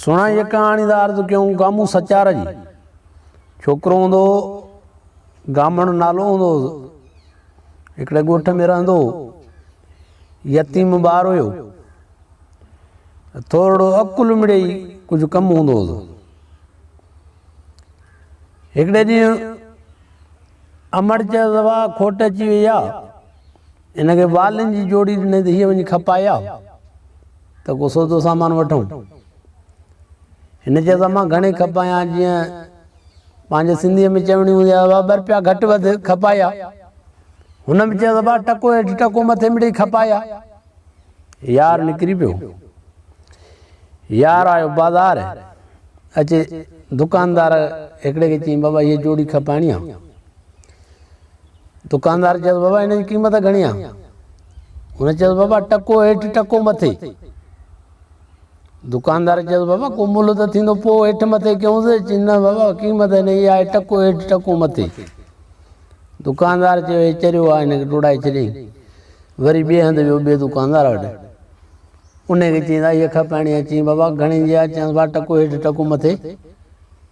سھڻا ھيء ڪھاڻي ذا عرض ڪيون گامون سچار جي ڇوڪرو ھوندو ھو گامڻ نالو ھوندو ھو ھڪڙي ڳوٺ ۾ رھندو ھو يتيم ٻار ھيو ٿورڙو عقل مڙي ڪجھ ڪم ھوندو ھو ھڪڙي ڏينھن امڙ چيو ذا کٽ اچي وئي آ هن کي والن جي جوڙي ڏنائين ته هيء وڃي کپائي آء ته ڪو سودو سامان وٺون. هن چيس ته مان گهڻي کپايان جيئن پنهنجي سنڌيء ۾ چوڻي هوندي آهي ابا ٻرپيا گهٽ وڌ کپائي آء. هن به چيس ابا ٽڪو هيٺ ٽڪو مٿي مڙئي کپائي آء. يار نڪري پيو. يار آيو بازار اچي دڪاندار هڪڙي کي چيائين بابا هيء جوڙي کپائڻي آ. دڪاندار چيس بابا ان جي قيمت گهڻي آ هن چيس بابا ٽڪو هيٺ ٽڪو مٿي دڪاندار چيس بابا ڪو ملهه ته ٿيندو پوء هيٺ مٿي ڪيونس چي نه بابا قيمت هن جي آهي ٽڪو هيٺ ٽڪو مٿي دڪاندار چيو هي چريو آهي هن کي ٽوڙائي ڇڏيائين وري ٻئي هنڌ ويو ٻئي دڪاندار وٽ ان کي چيائين هيء کپائڻي آ چيائين بابا گهڻي جي آ چيائنس بابا ٽڪو هيٺ ٽڪو مٿي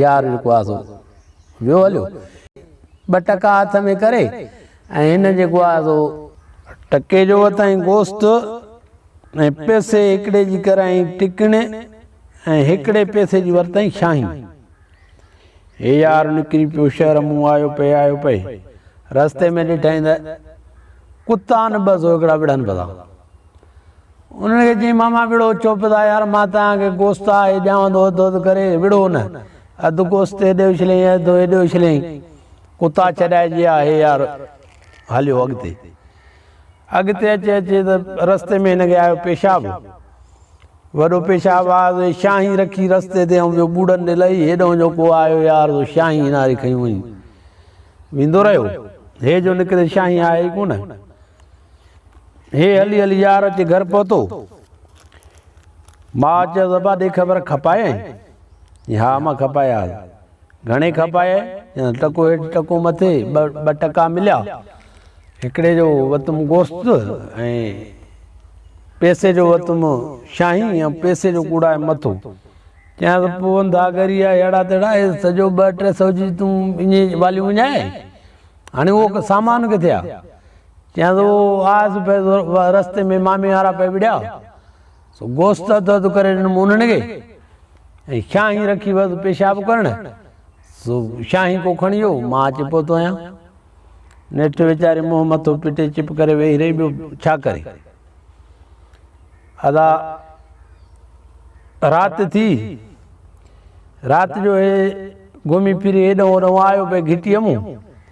يار جيڪو آ سو ويو هليو. ٻه ٽڪا هٿ ۾ ڪري ۽ هن جيڪو آ سو. ٽڪي جو وتائين گوشت ۽ پيسي هڪڙي جي ڪرايائين ٽڪڻي ۽ هڪڙي پيسي جي ورتائين شاهين. هي يار نڪري پيو شهر مون آيو پئي آيو پئي. رستي ۾ ڏٺائين ته ڪتا نه ٻه سو هڪڙا وڙهن پئي ٿا. انهن کي چيائين، ماما وڙهو چپ ٿا يار، مان توهان کي گوشت آهي ڏيانو ٿو اڌ اڌ ڪري، وڙهو نه. اڌ گوشت هيڏي اڇليائين اڌ هيڏي اڇليائين. ڪتا ڇڏائجي ها هي يار. هليو اڳتي. اڳتي اچي اچي ته رستي ۾ هن کي آيو پيشاب. وڏو پيشاب آيو ته شاهي رکي رستي تي ۽ ٻيو ٻوڙن ڏي لهي هيڏهون جو ڪو آيو يار سو شاهي هناري کنيون هئين. ويندو رهيو. هي جو نڪري شاهي آهي ئي ڪونه. هي هلي هلي يار اچي گهر پهتو. ماء چيس ابا ڏي خبر کپايائين؟ چي ها اما کپاياس. گهڻي کپايائين؟ چيائين ٽڪو هيٺ ٽڪو مٿي ٻه ٽڪا مليا. هڪڙي جو وتم گوشت ۽ پيسي جو وتم شاهي ۽ پيسي جو ڪوڙائي مٿو. چيائينس پون ڌاڳري آ هيڙا تيڙا اهي سڄو ٻه ٽي سئو جي تون اڃي واليون وڃائي هاڻي اهو سامان ڪٿي آ؟ يا سو آس پي رستي ۾ مامي وارا پي وڙيا سو گوشت اڌ اڌ ڪري ڏنم انهن کي ۽ شاهي رکي ويس پيشاب ڪرڻ سو شاهي ڪو کڻي ويو مان اچي پهتو آهيان نيٺ ويچاري منهن مٿو پٽي چپ ڪري ويهي رهي ٻيو ڇا ڪري ادا رات ٿي رات جو گھمي پھري ايڏو اڏو آيو پئي گھٽي مون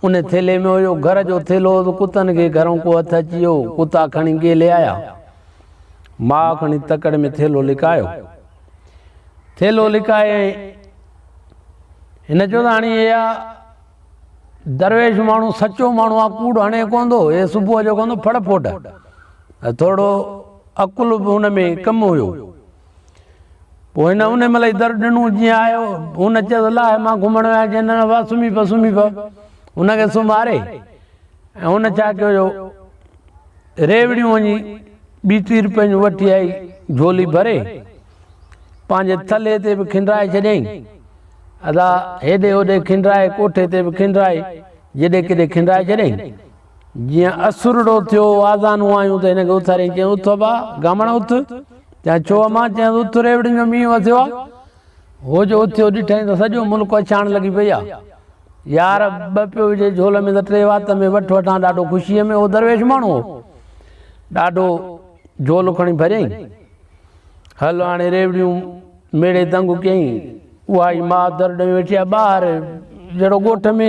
ان ٿيلهي ۾ هيو گهر جو ٿيلهو ته ڪتن کي گهرون ڪو هٿ اچي ويو، ڪتا کڻي گيلي آيا. ماء کڻي تڪڙ ۾ ٿيلهو لڪايو. ٿيلهو لڪايائين. هن چيو ته هاڻي اها درويش ماڻهو سچو ماڻهو آ، ڪوڙ هڻي ڪوندو، هي صبح جو ڪوندو ڦڙ ڦوٽ. ٿورڙو عقل به هن ۾ ڪم هيو. پوء هن ان ملئي در ڏنو جيئن آيو هن چيس الله مان گهمڻ ويا جي نه وا سمي پا سمي پا هن کي سماري ۽ هن چا ڪيو جو ريوڙيون وڃي ٻي تير پنهنجو وٺي آئي جھولي ڀري پنهنجي تلي تي به کنڊرائي ڇڏيائين ادا هيڏي هوڏي کنڊرائي ڪوٺي تي به کنڊرائي جڏي ڪڏي کنڊرائي ڇڏيائين جيئن اسرڙو ٿيو، آزانون آيون ته هن کي اٿاريائين، چيائين، اٿ ابا، گامڻ اٿ! چيائين، ڇو امان؟ چيائينس، اٿ، ريوڙين جو مينهن وسيو آ. هو جو اٿيو، ڏٺائين ته سڄو ملڪ اڇاڻ لڳي پئي آ. يار، ٻه پيو وجهي جهول ۾ ته ٽي وات ۾ وٺ وٺان ڏاڍو خوشيء ۾. هو درويش ماڻهو هو. ڏاڍو جهولو کڻي ڀريائين. هل هاڻي ريوڙيون ميڙي دنگ ڪيائين. اها ئي ماء در ڏيئون ويٺي آ. ٻاهر جهڙو ڳوٺ ۾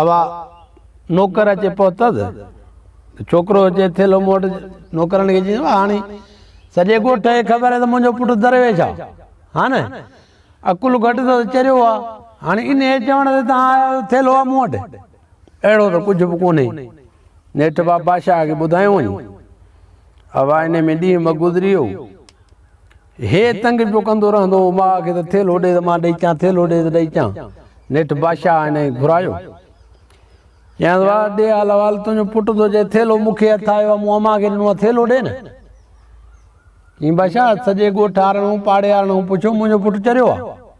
اوا نوڪر اچي پهتس ته ڇوڪرو اچي ٿيلهو مون وٽ نوڪرن کي چيس هاڻي سڄي ڳوٺ کي خبر آهي ته منهنجو پٽ درويش آهي ها نه عقل گهٽ اٿس چريو آهي هاڻي انهيء چوڻ تي توهان آيا آهيو ٿيلهو آهي مون وٽ اهڙو ته ڪجهه به ڪونهي نيٺ باباشاهه کي ٻڌايو وڃي اوا انهيء ۾ ڏينهن ٻه گذري ويو هي تنگ پيو ڪندو رهندو هو ماء کي ته ٿيلهو ڏي ته مان ڏئي چان، ٿيلهو ڏي ته ڏئي چان. نيٺ بادشاهه هن کي گهرايو. چيائنس واء ڏي حال احوال، تنهنجو پٽ ٿو چئي ٿيلهو مون کي هٿ آيو آهي، مون امان کي ڏنو آهي، ٿيلهو ڏي نه. چيائين بادشاهه سڄي ڳوٺ وارن، پاڙي وارن کان پڇو منهنجو پٽ چريو آهي.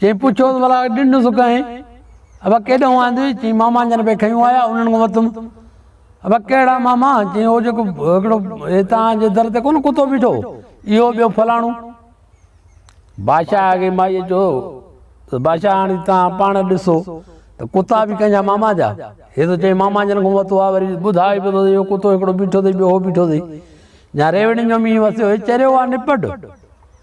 چيائين پڇيوس ڀلا ڏنڊ سڪائين ابا ڪيڏانهن آندي چيائين ماما جن پي کنيو آيا انهن کان ورتم ابا ڪهڙا ماما چيائين اهو جيڪو هڪڙو هتان جي در تي ڪون ڪتو بيٺو اهو ٻيو فلاڻو بادشاهه کي مائي چيو ته بادشاهه هاڻي تان پاڻ ڏسو ته ڪتا به ڪنهن جا ماما جا هي ته چيائين ماما جن کان ورتو آ وري ٻڌائي به ٿو اهو ڪتو هڪڙو بيٺو اٿئي ٻيو هو بيٺو اٿئي جا ريوڙين جو مينهن وسيو هي چريو آ نپٽ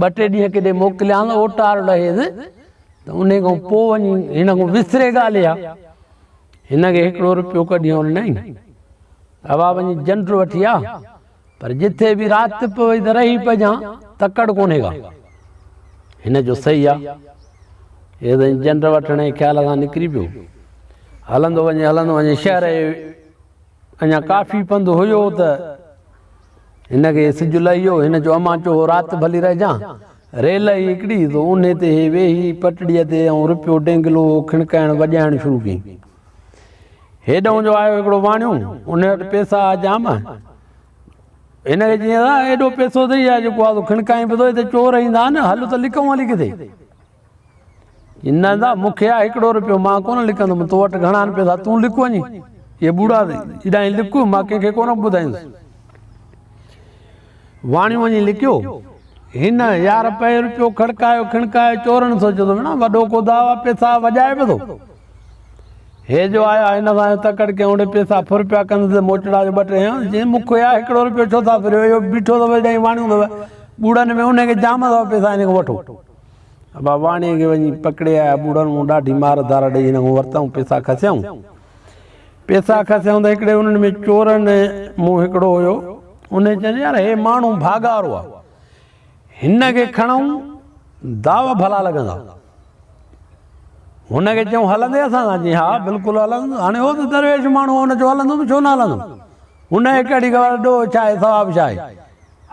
ٻه ٽي ڏينهن ڪيڏي موڪليان اوٽار لهيس ته ان کان پوء وڃي هن کان وسري ڳالهه اها هن کي هڪڙو روپيو ڪڍي هن ڏنائين اوا وڃي جنڊ وٺي آ پر جتي به رات پوي ته رهي پجان تڪڙ ڪونهي ڪا هن جو صحيح آ هي ته جنڊ وٺڻ جي خيال سان نڪري پيو هلندو وڃي هلندو وڃي شهر اڃا ڪافي پنڌ هيو ته هن کي سج لهيو. هن چيو، امان چوهو رات ڀلي رهجان. ريل آئي هڪڙي سو انهي تي هي ويهي پٽڙيء تي ۽ رپيو ڊينگلو کڻڪائڻ وڄائڻ شروع ڪيائين. هيڏهون جو آيو هڪڙو واڻيو، انهي وٽ پيسا ها جام. هن کي چيائين، اڙا ايڏو پيسو اٿئي ها جيڪو ها سو کڻڪائين به ٿو. هتي چور ايندا آهن، هل ته لڪون هلي ڪٿي. نندا، مون کي آء هڪڙو رپيو مان ڪونه لڪندم، تو وٽ گهڻا آهن پئسا، تون لڪ وڃي اهي ٻوڙا ايڏانهين لڪ، مان ڪنهن کي ڪونه ٻڌائيندس. واڻيو وڃي لڪيو. هن، يار پئي رپيو کڙڪايو کڻڪايو چورن سوچيو ته مڙا وڏو ڪو داء آ، پئسا وڄائي به ٿو. هي جو آيا هن سان جو تڪڙ ڪيائون اڙي پئسا ڦر پيا ڪنڌ تي موچڙا جو ٻه ٽي هنيائون، چيائين مون کي آء هڪڙو رپيو ڇو ٿا ڦريو، اهو بيٺو اٿو ايڏانهين واڻيو اٿو، ٻوڙن ۾ انهي کي جام اٿو پئسا هن کان وٺو. ابا واڻيء کي وڃي پڪڙي آيا. ٻوڙن مون ڏاڍي مار ڌار ڏئي هن کان ورتائون پيسا کسيائون. پيسا کسيائون ته هڪڙي انهن ۾ چورن مون هڪڙو هيو. انهيء چيس يار هي ماڻهو ڀاڳارو آ. هن کي کڻئون داو ڀلا لڳندا. هن کي چئون هلندين اسان سان؟ چيائين ها بلڪل هلندون. هاڻي هو ته درويش ماڻهو آ هن چيو هلندون به ڇو نه هلندون. هن هڪ اڙي خبر ڏوهه ڇا آهي ثواب ڇا آهي.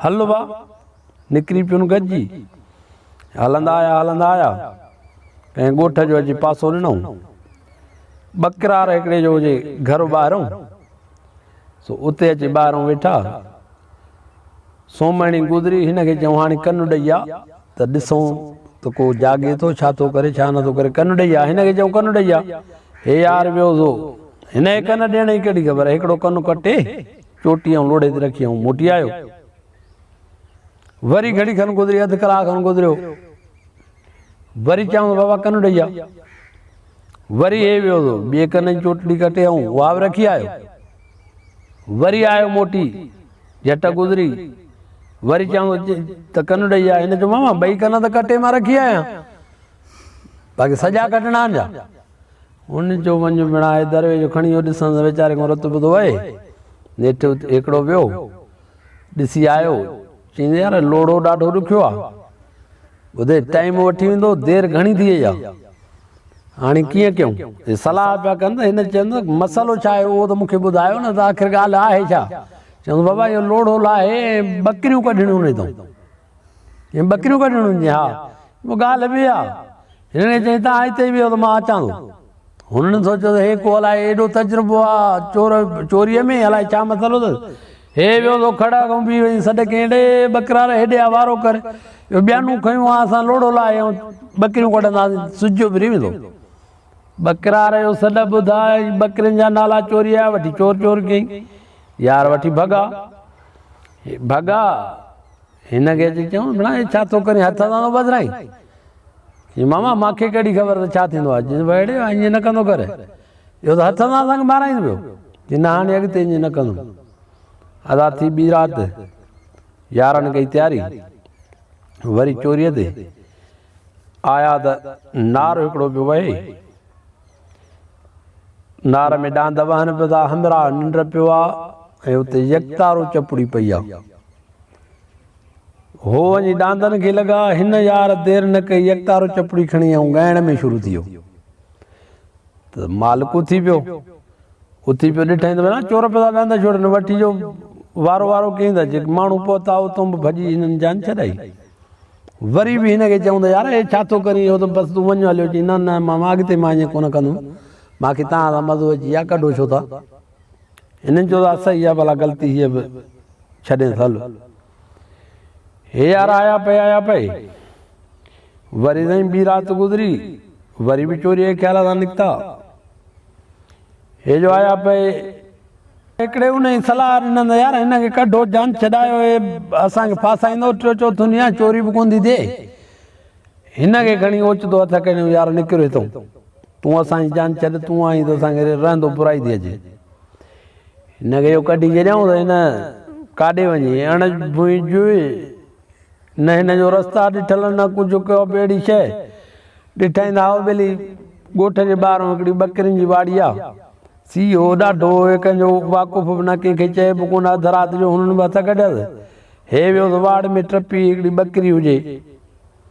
هل ابا! نڪري پيون گڏجي، هلندا آيا هلندا آيا، ڪنهن ڳوٺ جو اچي پاسو ڏنائون. ٻڪرار هڪڙي جو هجي گهر ٻاهرئون، سو اتي اچي ٻاهرئون ويٺا. سومهڻي گذري، هن کي چيائون هاڻي ڪن ڏئي آ ته ڏسون ته ڪو جاڳي ٿو، ڇا ٿو ڪري، ڇا نه ٿو ڪري، ڪن ڏئي آ، هن کي چيائون ڪن ڏئي آ. هي يار ويو سو هن کي ڪن ڏيڻ جي ڪهڙي خبر، هڪڙو ڪن ڪٽي چوٽي ۽ لوڙهي تي رکي ۽ موٽي آيو. وري گهڙي کن گذري اڌ ڪلاڪ کن گذريو وري چيائون بابا ڪن ڏئي آ وري هي ويو ٿو ٻي ڪن جي چوٽلي ڪٽي آئون اها به رکي آيو وري آيو موٽي جٽ گذري وري چيائون ته ڪن ڏئي آ هن چيو ماما ٻئي ڪن ته ڪٽي مان رکي آيا باقي سڄا ڪٽڻا جا ان جو ونج مڙا اي دروي جو کڻي يو دسن ويچاري کو رت بدو اي نيٺ ايڪڙو ويو ڏسي آيو، چيائين، يار لوڙهو ڏاڍو ڏکيو آ. ٻڌ، ٽائيم وٺي ويندو، دير گهڻي ٿي وئي آ. هاڻي ڪيئن ڪيون؟ هي صلاح پيا ڪن ته هن چيو ته مسئلو ڇا آهي اهو ته مون کي ٻڌايو نه ته آخر ڳالهه آهي ڇا؟ چيائونس، بابا اهو لوڙهو لاهي ۽ ٻڪريون ڪڍڻيون نيتون. چيائين، ٻڪريون ڪڍڻيون آهن؟ چيائين، ها. چيو، ڳالهه به آهي. هن کي چيائين، توهان هتي ئي ويهو ته مان اچان ٿو. هن سوچيو ته هي ڪو الائي ايڏو تجربو آ چور چوريء ۾، الائي ڇا مسئلو اٿس. هي ويو سو کڙ اڳئون بيهي ويئي، سڏ ڪيائين، ڙي ٻڪرار هيڏي آ وارو ڪر. اهو ٻيانون کنيون آ، اسان لوڙهو لاهي ۽ ٻڪريون ڪڍنداسين، سج جو ڦري ويندو. ٻڪرار اهو سڏ ٻڌا ۽ ٻڪرين جا نالا چوريء جا وٺي چور چور ڪيائين. يار وٺي ڀڳا. ڀڳا. هن کي اچي چيو ڀلا هي ڇا ٿو ڪرين هٿ سان ٿو ٻڌرائين چي ماما مان کي ڪهڙي خبر ته ڇا ٿيندو آهي چي وهڙي ائين نه ڪندو ڪر اهو ته هٿ سان اسان کي مارائين پيو چي نه هاڻي اڳتي ائين نه ڪندم ادا ٿي ٻي رات يارن ڪئي تياري وري چوريء تي آيا ته نار هڪڙو پيو وهي نار ۾ ڏاند وهن پيو ٿا همراهه ننڊ پيو آ ۽ اتي يڪتارو چپڙي پئي آ هو وڃي ڏاندن کي لڳا. هن يار دير نه ڪئي، يڪتارو چپڙي کڻي ۽ ڳائڻ ۾ شروع ٿي ويو. ته مالڪ اٿي پيو. اٿي پيو ڏٺائين ته ڀيڻا چور پيدا ڏاند ڇوڙ نه وٺي جو وارو وارو ڪيئن ٿا جيڪي ماڻهو پهتا اتون به ڀڄي هنن جان ڇڏائي. وري به هن کي چئون ته يار هي ڇا ٿو ڪرين اهو ته بس تون وڃ هليو. چئي نه نه ماما اڳتي مان ائين ڪونه ڪندم. مان کي توهان سان مزو اچي ويو آهي ڪڍو ڇو ٿا. انهن چيو ته اسهي آ ڀلا غلطي هيء به ڇڏينس هل. هي يار آيا پئي آيا پئي. وري سائين ٻي رات گذري وري به چوريء جي خيال سان نڪتا. هي جو آيا پئي. هڪڙي انهي صلاح ڏنس ته يار هن کي ڪڍو جان ڇڏايو هي اسان کي ڦاسائيندو ٽيو چوٿون ڏينهن آ چوري به ڪونه ٿي ٿئي. هن کي کڻي اوچتو هٿ اڪيڙيو، يار نڪر هتئون، تون اسان جي جان ڇڏ، تون آهين ته اسان کي رهندو برائي ٿي اچي. هن کي اهو ڪڍي ڇڏيائون ته هن ڪاڏي وڃي اڻ ڀونء جوئي، نه هن جو رستا ڏٺل نه ڪجهه ڪيو به اهڙي شيء ڏٺائين ته هائو ٻيلي ڳوٺ جي ٻاهرئون هڪڙي ٻڪرين جي واڙي آ، سي هو ڏاڍو هو، هي ڪنهن جو واقف به نه ڪنهن کي چئي به ڪونه، اڌ رات جو هنن به هٿ ڪڍيس. هي ويوس واڙ ۾ ٽپي هڪڙي ٻڪري هجي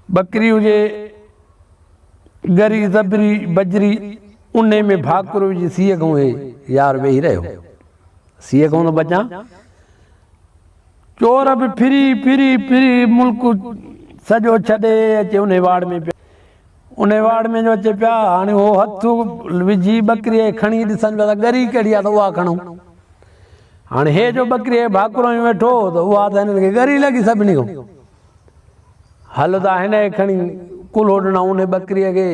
ٻڪري هجي ڳري زبري بجري انهي ۾ ڀاڪر وجهي سيء کان هي يار ويهي رهيو سيء کان ٿو بچان چور به ڦري ڦري ڦري ملڪ سڄو ڇڏي اچي انهي واڙ ۾ پيو ان واڙ ۾ جو اچي پيا هاڻي هو هٿ وجهي ٻڪري کڻي ڏسن پيا ته ڳري ڪهڙي آ ته اها کڻون هاڻي هي جو ٻڪري ڀاڪرو ۾ ويٺو ته اها ته هنن کي ڳري لڳي سڀني کان هل ته هن کي کڻي ڪلهو ڏنا ان ٻڪري کي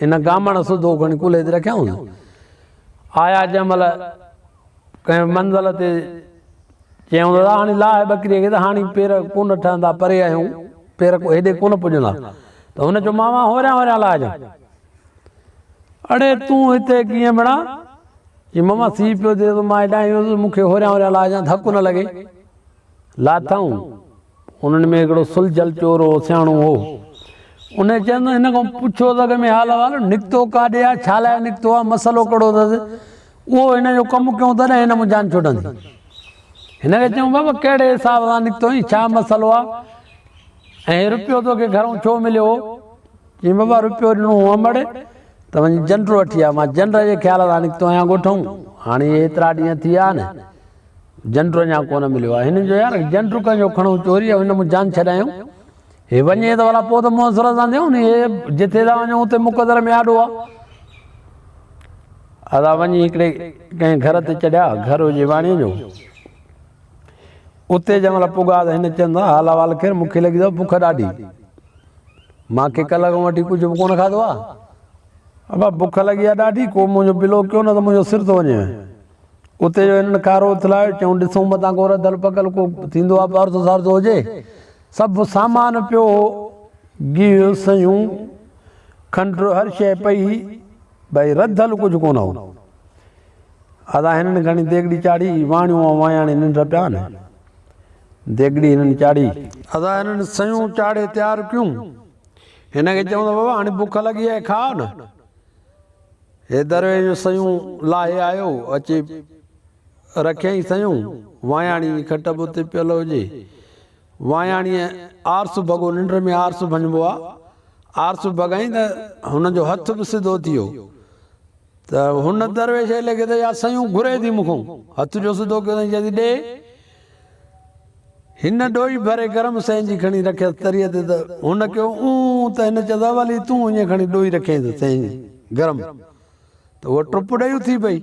هن گامڻ سڌو کڻي ڪلهي تي رکيائون آيا جنهن مهل ڪنهن منزل تي چيائون دادا هاڻي لاهه ٻڪريء کي ته هاڻي پير ڪونه ٺهندا پري آهيون پير ڪو هيڏي ڪونه پڄندا ته هن چيو ماما هوريان هوريان لاهجان اڙي تون هتي ڪيئن مڙا چي ماما سي پيو ٿئي ته مان هيڏانهن ايندس مون کي هوريان هوريان لاهجان ڌڪ نه لڳي لاٿائون انهن ۾ هڪڙو سلجهيل چورو سياڻو هو. ان چيم، هن کان پڇو ته اڳ ۾ حال احوال، نڪتو ڪاڏي آ، ڇا لاء نڪتو آ، مسئلو ڪهڙو اٿس، اهو هن جو ڪم ڪيون تڏهن هن مان جان ڇٽندي. هن کي چيم، بابا ڪهڙي حساب سان نڪتو ۽ ڇا مسئلو آ ۽ هي روپيو توکي گهرئون ڇو مليو هو؟ چيم، بابا روپيو ڏنو هو امڙ ته وڃي جنڊ وٺي آ، مان جنڊ جي خيال سان نڪتو آهيان ڳوٺئون، هاڻي اهي ايترا ڏينهن ٿي ويا آهن، جنڊ اڃا ڪونه مليو آهي هن جو يار جنڊ ڪنهن جو کڻو چوري هن مون جان ڇڏايون هي وڃي ته والا پوء ته مون سر سان ڏيون ني جتي ٿا وڃو اتي مقدر ۾ آڏو آ ادا وڃي هڪڙي ڪنهن گهر تي چڙهيا گهر هجي واڻي جو اتي جنهن مهل پڳا ته هن چيندا حال احوال کير مون کي لڳي ٿو بک ڏاڍي مان کي کلڪ وٽي ڪجهه به ڪونه کاڌو آ ابا بک لڳي آ ڏاڍي ڪو منهنجو بلو ڪيو نه ته منهنجو سر ٿو وڃي اتي جو هنن کارو اٿلايو، چيائون، ڏسون متان ڪو رڌل پڪل ڪو ٿيندو آ پارسو سارسو هجي. سڀ سامان پيو هو، گيهه، سيون، کنڊ هر شيء پئي هئي، بئي رڌل ڪجهه ڪونه هو. ادا هنن گهڻي ديڳڙي چاڙهي، واڻيون ۽ واياڻي ننڊ پيا آن. ديڳڙي هنن چاڙهي. ادا هنن سيون چاڙهي تيار ڪيون. هن کي چيائون ته بابا هاڻي بک لڳي آهي، کاء نه. هي در جون سيون لاهي آيو، اچي رکيائين سيون، واياڻي جي کٽ به اتي پيل هجي. واياڻيء آرسو ڀڳو، ننڊ ۾ آرسو ڀڃبو آ، آرسو ڀڳائين ته هن جو هٿ به سڌو ٿي ويو ته هن درويش ايلي کي ته يا سيون گهري ٿي مون کان، هٿ جو سڌو ڪيو اٿائين، چئي ٿي ڏي. هن ڏوئي ڀري گرم سئي جي کڻي رکيس تريء تي ته هن ڪيو اونء ته هن چيس اولي تون اڃ کڻي ڏوئي رکيائين ته سئي جي گرم ته هوء ٽپ ڏئي اٿي پئي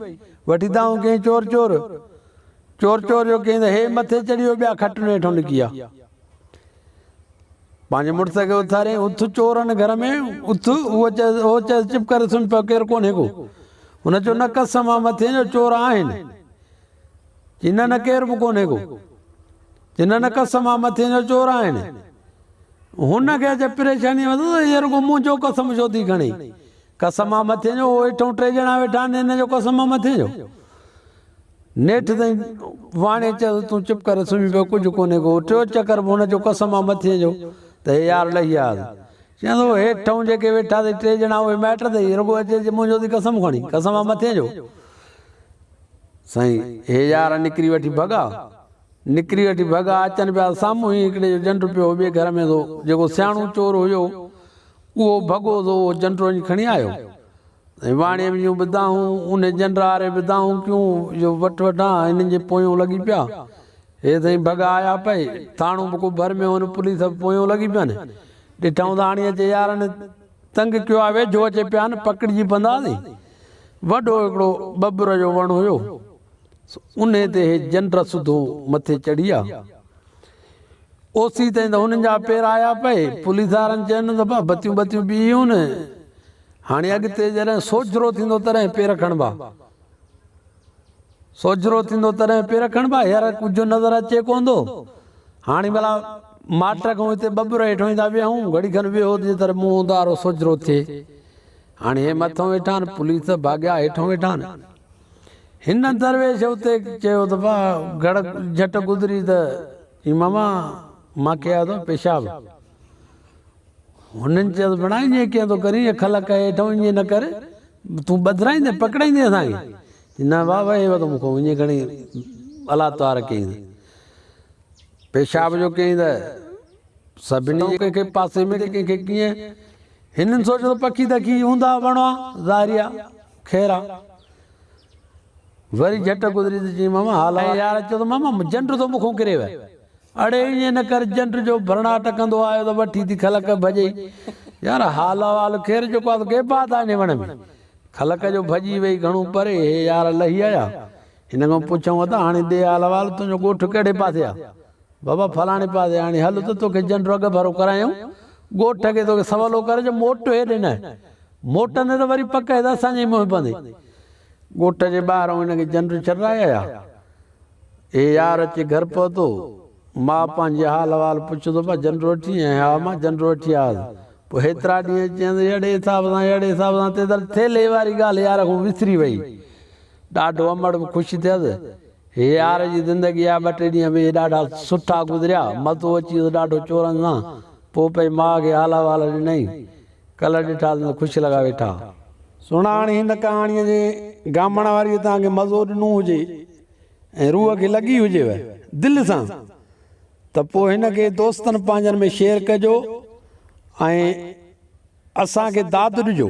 وٺي دانهون ڪيائين چور چور چور چور جو ڪيائين ته هي مٿي چڙهي ويو ٻيا کٽڻ هيٺون نڪي آ پنهنجي مڙس کي اٿاريائين اٿ چورن گهر ۾ اٿ هو چيس هو چيس چپ ڪري سمهه پيو ڪير ڪونهي ڪو هن چيو نه قسم آ مٿي جو چور آهن جنھن نه ڪير به ڪونھي ڪو. جنھن نه قسم آ مٿين جو چور آھن. ھن کي اچي پريشاني ھوندو ته ھيء رڳو منھنجو قسم ڇو ٿي کڻي. قسم آ مٿين جو، ھو ھيٺئون ٽي ڄڻا ويٺا آھن، ھن جو قسم آ مٿين جو. نيٺ تائين واڻي چيس تون چپ ڪري سمھي پئي ڪجھ ڪونھي ڪو. ٽيون چڪر به ھن جو قسم آ مٿين جو ته ھي يار لھي آ. چيائنس ھو ھيٺئون جيڪي ويٺا اٿئي ٽي ڄڻا اھي مائٽ اٿئي، رڳو اچي چي منھنجو ٿي قسم کڻي. قسم آ مٿين جو. سائين هي يار نڪري وٺي ڀڳا نڪري وٺي ڀڳا اچن پيا سامهون هي هڪڙي جو جنڊ پيو ٻي گهر ۾ سو جيڪو سياڻو چور هيو اهو ڀڳو سو اهو جنڊ وڃي کڻي آيو سائين واڻي ۾ جون به دانهون ان جنڊ آري به دانهون ڪيون جو وٺ وٺان هنن جي پويون لڳي پيا هي سائين ڀڳا آيا پئي ٿاڻو به ڪو ڀر ۾ هو نه پوليس به پويون لڳي پين ڏٺائون ٿا هاڻي اچي يارن تنگ ڪيو آ ويجهو اچي پيان پڪڙجي پنداسين وڏو هڪڙو ٻٻر جو وڻ هيو سو انهي تي هي جنڊ سڌو مٿي چڙهي آ اوسي تائين ته هنن جا پير آيا پئي پوليسارن چيونس ته ڀا بتيون بتيون ٻيهيون هاڻي اڳتي جڏهن سوجهرو ٿيندو تڏهن پير کڻبا. سوجھرو ٿيندو تڏهن پير کڻبا هير ڪجهه نظر اچي ڪوندو هاڻي ڀلا ماٽ کان هتي ٻٻر هيٺ ويندا ويهون گھڙي کن ويهو جي تر منهن اوندارو سوجھرو ٿئي هاڻي هي مٿو ويٺان پوليس ته ڀاڳيا هيٺ ويٺان هن درويش اتي چيو ته ڀا گھڙ جھٽ گذري ته اي ماما مان ڪيا ٿو پيشاب. هنن چيس ڀيڻا ائين ڪيئن ٿو ڪرين اک لڪ هيٺ ائين نه ڪر تون ٻڌرائيندين پڪڙائيندين اسان کي نه واء واء هيو ته مون کان ائين کڻي الا توار ڪيائين ته پيشاب جو ڪيائين ته سڀني ڪنهن کي پاسي ۾ ڪنهن کي ڪيئن هنن سوچيو ته پکي دکي هوندا وڻوا ظاهريا خيرا وري جهٽ گذري ته چيائين، ماما حال احوال. يار اچو ته ماما جنڊ ٿو مونکون ڪري ويهه. اڙي ائين نه ڪر جنڊ جو ڀرڻا ٽڪندو آيو ته وٺي ٿي کلڪ ڀڄئي. يار حال احوال خير جيڪو آهي سو ڪي بات آهي انهي وڻ ۾. کلڪ جو ڀڄي وئي گهڻو پري هي يار لهي آيا. هن کان پڇيائون ادا هاڻي ڏي حال احوال تنهنجو ڳوٺ ڪهڙي پاسي آهي. بابا فلاڻي پاسي آڻي هل ته توکي جنڊو اڳ ڀرو ڪرايون. ڳوٺ کي توکي سولو ڪري جو موٽ هيڏي نه. موٽندي ته وري پڪ هيدا اسان جي ئي منهن پوندي. ڳوٺ جي ٻاهران هن کي جنڊو چرائي آيا. هي يار اچي گهر پهتو. ماء پنهنجي جي حال احوال پڇيو ته بابا جنڊو وٺي آئين؟ ها ماء جنڊو وٺي آيس. پوء هيترا ڏينهن چيائين ته اهڙي حساب سان اهڙي حساب سان تيتل ٿيلهي واري ڳالهه يار کون وسري وئي. ڏاڍو امڙ به خوش ٿيس. هيار جي زندگي جا ٻه ٽي ڏينهن به ڏاڍا سٺا گذريا. مزو اچي ويس ڏاڍو چورن سان. پوء پئي ماء کي هالا والا ڏنائين. ڪلهه ڏٺاسين ته خوش لڳا ويٺا. سهڻاڻي هن ڪهاڻيء جي گامڻ واريء توهان کي مزو ڏنو هجي ۽ روح کي لڳي هجيو دل سان ته پوء هن کي دوستن پنهنجن ۾ شيئر ڪجو ۽ اسان کي داد ڏجو.